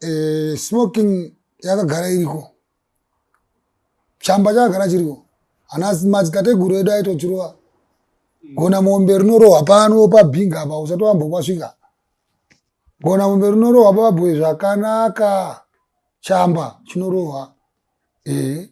Eh, smoking yakagara iriko chamba chakagara chiriko ana madzitateguru edu aitochirova gona mombe rinorohwa pano pabhinga apa usati wambokwasvika gona mombe rinorohwa pababhoyi zvakanaka chamba chinorohwa ee eh,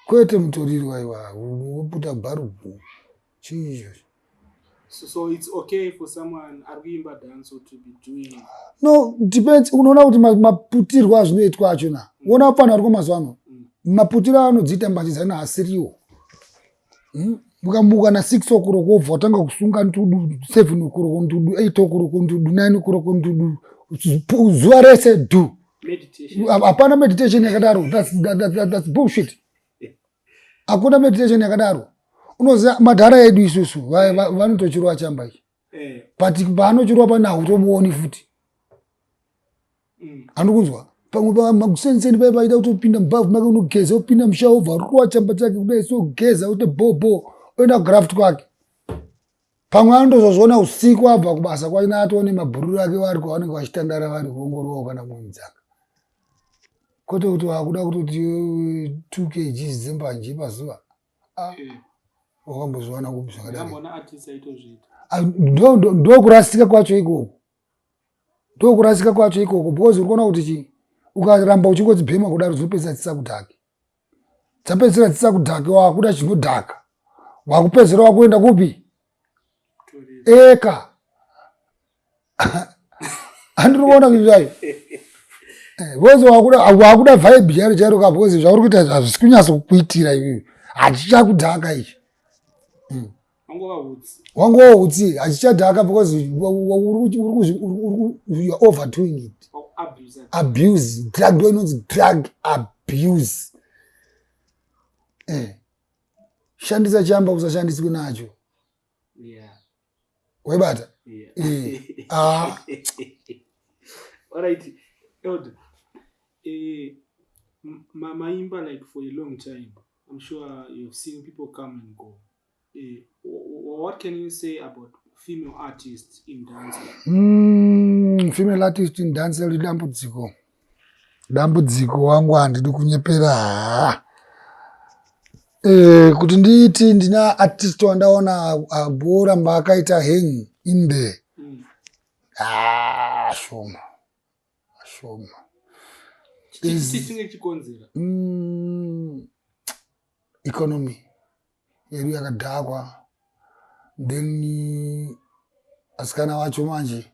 Kwete mutoriro waiwa woputa bharubhu chii izvozvo. So, so it's okay for someone ari kuimba dance to be doing no depends unoona kuti maputirwo azvinoitwa acho na mm. uona panhu ariko mazuva ano mm. maputirwo anodziita mbanjizana asiriwo hmm? mukamuka na six o'clock wobva watanga kusunga ntudu seven o'clock ntudu eight o'clock ntudu nine o'clock ntudu zuva rese du hapana meditation yakadaro thats bullshit hakuna meditation yakadaro unoziva madhara edu isusu vanotochirwa chamba ichi eh. but paanochirwa pana hautomuoni futi andikunzwa mm. pamwe pamakusenseni paye paida kutopinda mubhavhu make unogeza opinda musha obva ruwa chamba chake kudai sogeza ote bhobho oenda kugraft kwake pamwe anotozozviona usiku abva kubasa kwake naatoone mabhururu ake vari kwavanenge vachitandara vari kuongorowa kana kuinzaka kwete kuti wakuda kutoti two kgs dzembanje pazuva ah. eh. wakambozviwana kupi zvakadarindokurasika kwacho ikoko ndokurasika kwacho ikoko because uri kuona kuti chii ukaramba uchingodzibhema kudaro dzinopedzisa dzisakudhake dzapedzisira dzisakudhake wakuda chinodhaka wakupedzera wakuenda kupi eka handiri kuona kuti zvayo bcoz eh, wakuda vibe chairo chairo ka bcoz zvauri kuita zvazvisi kunyatso kukuitira ivivi hachichakudhaka ichi hmm. wangova utsi hachichadhaka bcoz youare overdoing it abuse drug ndo inonzi drug abuse eh. shandisa chamba usashandiswi nacho waibata eh. ah. alright elder eh, mamaimba like for a long time i'm sure you've seen people come and go eh, what can you say about female artist in dance mm, female artist in dance lidambudziko dambudziko wangu handidi kunyepera haa eh, kuti ndiiti ndina artist wandaona agoramba akaita hang in there mm. haa shoma shoma mm, economy yedu yakadhakwa then asikana vacho manje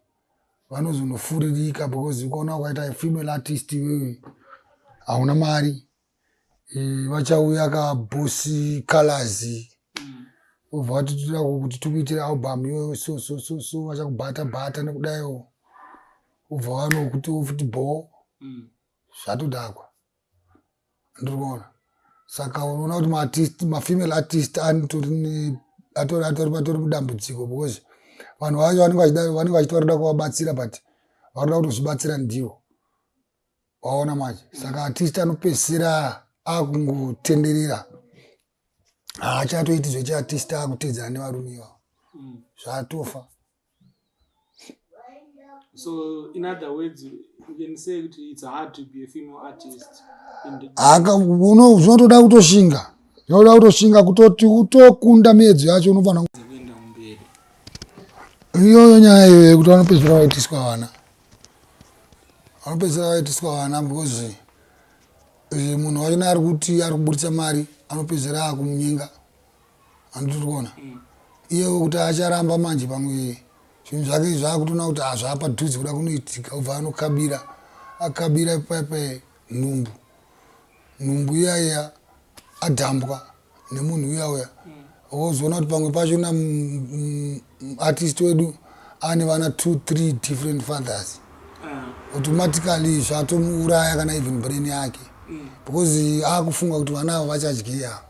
vanozonofuririka because ukaona ukaita female artist iwewe hauna mari eh, vachauya ka bosi colors obva vatitira kuti tikuitira album iyoyo so so so so vachakubata bata nekudaiwo obva vanokuti ofuti bho mm. zvatodakwa ndirikuona saka unoona kuti maartist mafemale artist atori atori mudambudziko because vanhu vacho vanenge vachiti varikuda kuvabatsira but varikuda kutozvibatsira ndivo waona manje saka artist anopedzisira akungotenderera haachatoiti zvechiartist akutedzana nevarume ivavo mm. zvatofa So in other words, you can say that it's hard to be a female artist. Zvinotoda kutoshinga, zvinoda kutoshinga kutoti utokunda miyedzo yacho unofanira iyoyo nyaya iyoyo yekuti vanopedzisira vaitiswa vana vanopedzisira vaitiswa vana because eh, munhu wachona ari kuti ari kuburitsa mari anopedzisira akumunyenga handiti uri kuona iyewo kuti acharamba manje pamwe zvinhu zvake izvi akutoona kuti hazvaapadhuze kuda kunoitika obva anokabira akabira paipai nhumbu nhumbu iyaiya adhambwa nemunhu uya uya wozoona kuti pamwe pacho na artist wedu ane vana two three different fathers ah. automatically zvatomuuraya kana even brain yake mm. because akufunga kuti vana avo vachadyei avo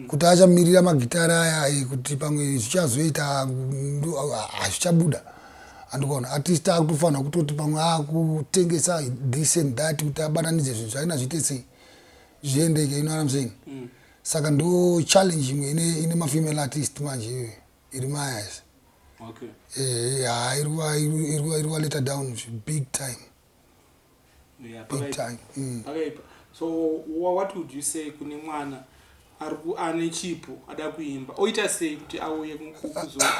kuti achamirira magitare aya eh, kuti pamwe zvichazoita hazvichabuda ah, ah, andikaona artist akutofanira kutoti pamwe akutengesa ah, this and that kuti abatanidze zvinhu zvaina zviite sei zviendeke you know what I'm saying mm. saka ndo challenge imwe ine, ine mafemale artist manje iyoyo iri mayas okay. eh, iri waleta down big time yeah, big time mm. pakaipa so what would you say kune mwana ane chipo ada kuimba oita sei kuti auye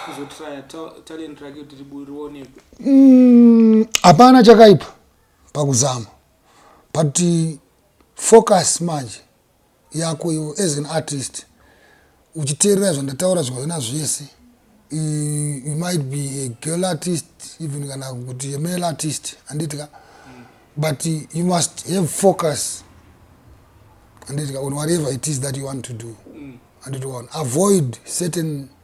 kuzotraya talent rake kuti rionekwe mm, hapana chakaipa pakuzama but focus manje yako iwe as an artist uchiteerera zvandataura zvivana zvese you might be a girl artist even kana kuti a male artist anditi ka but you must have focus anditi ka on whatever it is that you want to do anditoona avoid certain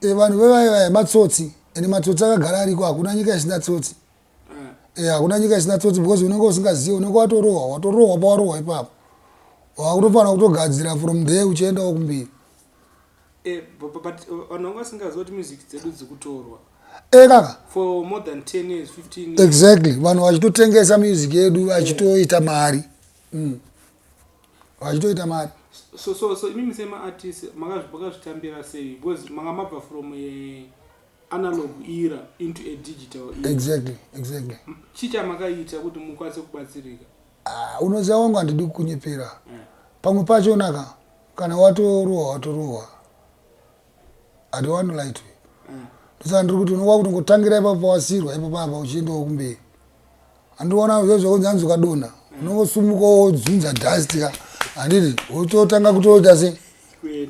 Eh, vanhu vevaye vaye matsotsi and matsotsi akagara ariko hakuna nyika isina tsotsi Eh, hakuna nyika isina tsotsi because unenge usingazive unenge watorohwa watorohwa pawarohwa ipapo wakutofanira kutogadzira from there uchiendawo kumbiri Eh, bu- bu- but uh, vanhu vanga vasingaziva kuti music dzedu dzikutorwa Eh, kaka for more than 10 years 15 years exactly vanhu vachitotengesa music yedu vachitoita mari vachitoita mari so so so imimi sema artist makazvitambira sei because manga mabva from a analog era into a digital era. exactly exactly chii chamakaita kuti mukwanise kubatsirika uh, unoziva wangu handidi kukunyepera yeah. pamwe pachonaka kana watorohwa watorohwa I don't want to lie to you. Mm. Ndosaka ndiri kuti unowa kuti ngotangira ipapo pawasirwa ipapo apa uchiendawo kumberi. Andiona zve zvakunzi hanzi ukadonha unongosumuka wodzunza dust ka handiti wototanga kutoita se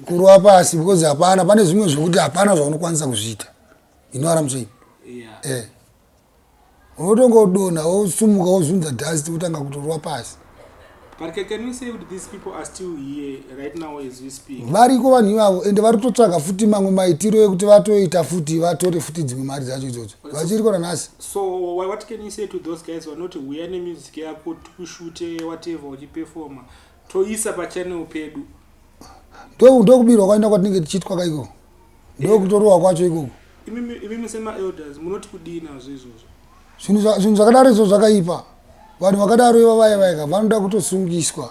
kurwa pasi because hapana pane zvimwe zvekuti hapana zvaunokwanisa kuzviita. You know what I'm saying? Yeah. Eh. Unotonga udonha wosumuka wozunza dust wotanga kutorwa pasi. But can, can we say that these people are still here right now as we speak? Variko vanhu ivavo ende vari kutotsvaga futi mamwe maitiro ekuti vatoita futi vatore futi dzimwe mari dzacho idzodzo. Vachiriko nanhasi. So what can you say to those guys vanoti huya nemusic yako tikushute whatever uchiperforma Toisa pa channel pedu. Ndo ndo kubirwa kwaenda kwatinenge tichitwa ka iko. Ndo kutorowa kwacho ikoko. Imi imi musema elders munoti kudii nazvo izvozvo? Zvinhu zva- zvinhu zvakadaro izvo zvakaipa. Vanhu vakadaro iva vaya vaya ka vanoda kutosungiswa.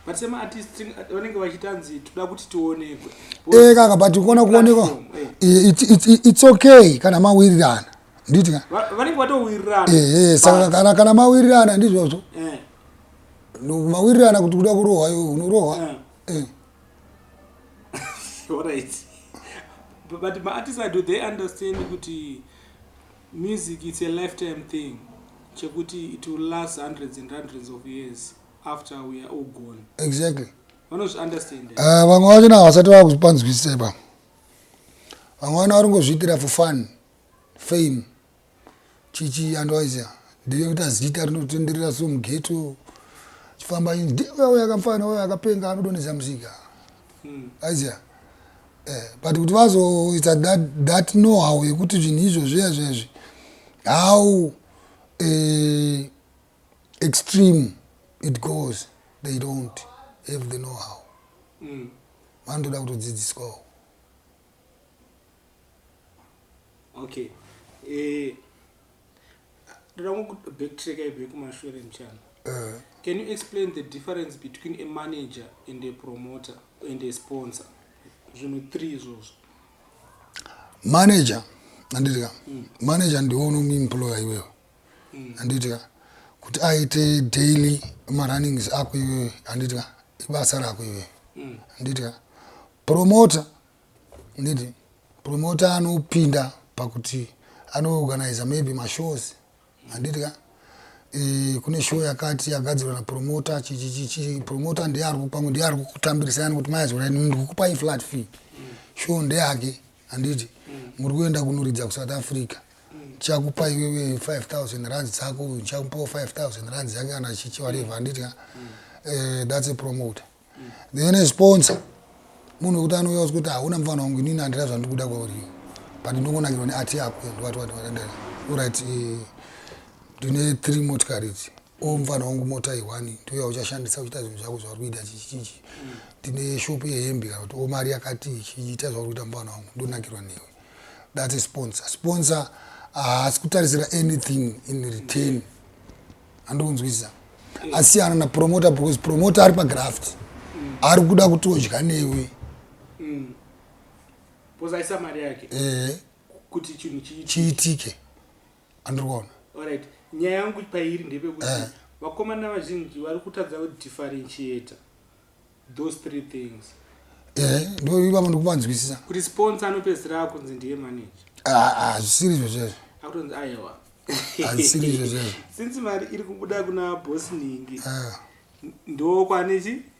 But sema artist thing, at- vanenge vachitanzi toda kuti tionekwe. Eh kaka but kuona kuonekwa. Platform, eh. Eh, It's it's it's okay kana mawirirana. Nditi ka? Va- Vanenge vatowirirana. Eh eh saka kana kana mawirirana ndizvozvo. Eh. mawirirana kuti kuda kurohwa iwe unorohwa ah. eh. alright but maartist do they understand kuti music it's a lifetime thing chekuti it will last hundreds and hundreds of years after we are all gone exactly vanozviunderstand ah, vamwe vacho na havasati vava kupanzwisisa ipa vamwe vana vari ngozviitira for fun fame Chichi andoaisa ndiye kuti azita rinotenderera so mughetto chifamba ini ndiye uya akamfana uya akapenga anodonhedza musika hmm. aizia eh, but kuti vazoita that, that know how yekuti zvinhu izvo zviya zvezvi how uh, extreme it goes they don't have the know how hmm. vanotoda mm. kutodzidziswawo okay eh ndoda kungu backtrack ibe kumashure mchana eh. can you explain the difference between a manager and a promoter and a sponsor zvinhu three izvozvo manager andidika mm. manager ndiwo unomuemployer iwewe handiti ka kuti aite daily marunnings ako iwewe handiti ka ibasa rako iwewe handiti ka promota handiti promota anopinda pakuti anoorganiza maybe mashows handiti ka e, kune show yakati yagadzirwa napromota chichichichi promota ndiye ari kupamwe ndiye ari kukutambirisa yani kuti maya zvorai ndikukupai flat fee show ndeyake handiti muri kuenda kunoridza kusouth africa chakupa iwewe 5000 rands dzako uyu chakupawo 5000 rands yake kana chichi whatever handiti ka eh, that's a promoter then a sponsor munhu wekuti anouya usi kuti hauna mufana wangu inini handira zvandiri kuda kwauri but ndongonakirwa neati yako and what what what andira orit eh, ndine three motikari idzi Umm mfana wangu mota iyi wani ndiyo yauchashandisa uchiita zvinhu zvako zvauri kuita chichichichi ndine shop yehembe kana kuti omari yakati chiita zvauri kuita mfana wangu ndonakirwa newe that's a sponsor sponsor haasi uh, kutarisira anything in return andokunzwisisa mm. asiyana napromoter because promoter ari pagraft mm. ari kuda kuti odya newe mm. eh. chiitike mm. andiri kuona Alright, nyaya yangu pairi ndepekuti Eh. vakomana vazhinji vari kutadza kudifferentiator those three things ehe ndo ivavo ndikuvanzwisisa kuti sponsor anopedzisira akunzi ndiye manager Ah, ah, zvisiri izvo zvezvo akutonzi aiwa Hazvisiri izvo zvezvo. since mari iri kubuda kuna boss ningi Ah, ndokwane chi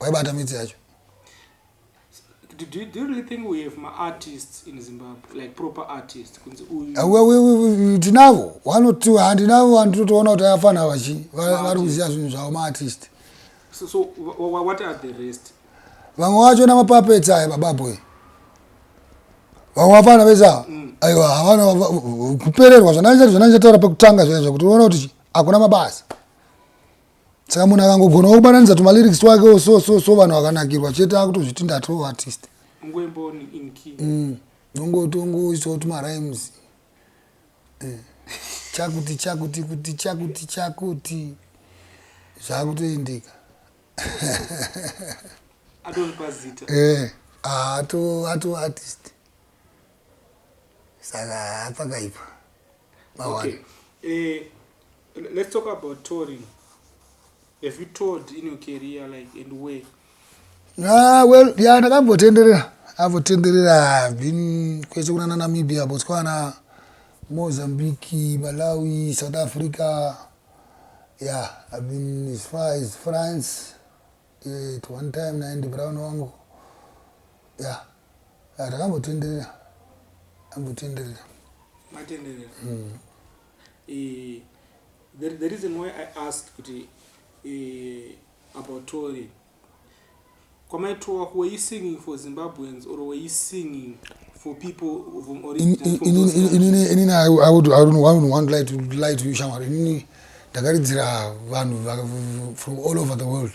waibata midzi yacho do, do, do you really think we have ma artists in zimbabwe like proper artists kunzi uyu ah, tinavo vanoti handinavo vantu totoona kuti afana vachi vari kuziva zvinhu zvavo maartist so, so what are the rest vamwe vacho namapapetsi aya bababoy vamwe vafana vese ava mm. aiwa havana kupererwa zvanaichati zvanaichataura pekutanga zvaizva kuti uona kuti hakuna mabasa saka munhu akangogonawo kubatanidza tumalyrics twakewo so so so vanhu vakanakirwa chete akutozviti ndatoo artist nongotongoitawo mm. tumarimes eh. chakuti chakuti kuti chakuti chakuti zvakutoendeka eh, ato ato artist saka apakaipa mawana okay. eh. Let's talk about touring. Have you toured in your career like and where? Ah, well, yeah, ndakambotenderera. Avotenderera I've been kwese kuna Namibia, Botswana, Mozambique, Malawi, South Africa. Yeah, I've been as far as France. Yeah, at one time naende brown wangu. Yeah. Ah, ndakambotenderera. Ambotenderera. Matenderera. Mm. the, the reason why i asked kuti uh, about tori kwamaitowa were you singing for zimbabweans or were you singing for people from origin inini i would i don't want, want to lie to lie to you shamwari inini ndakaridzira vanhu from all over the world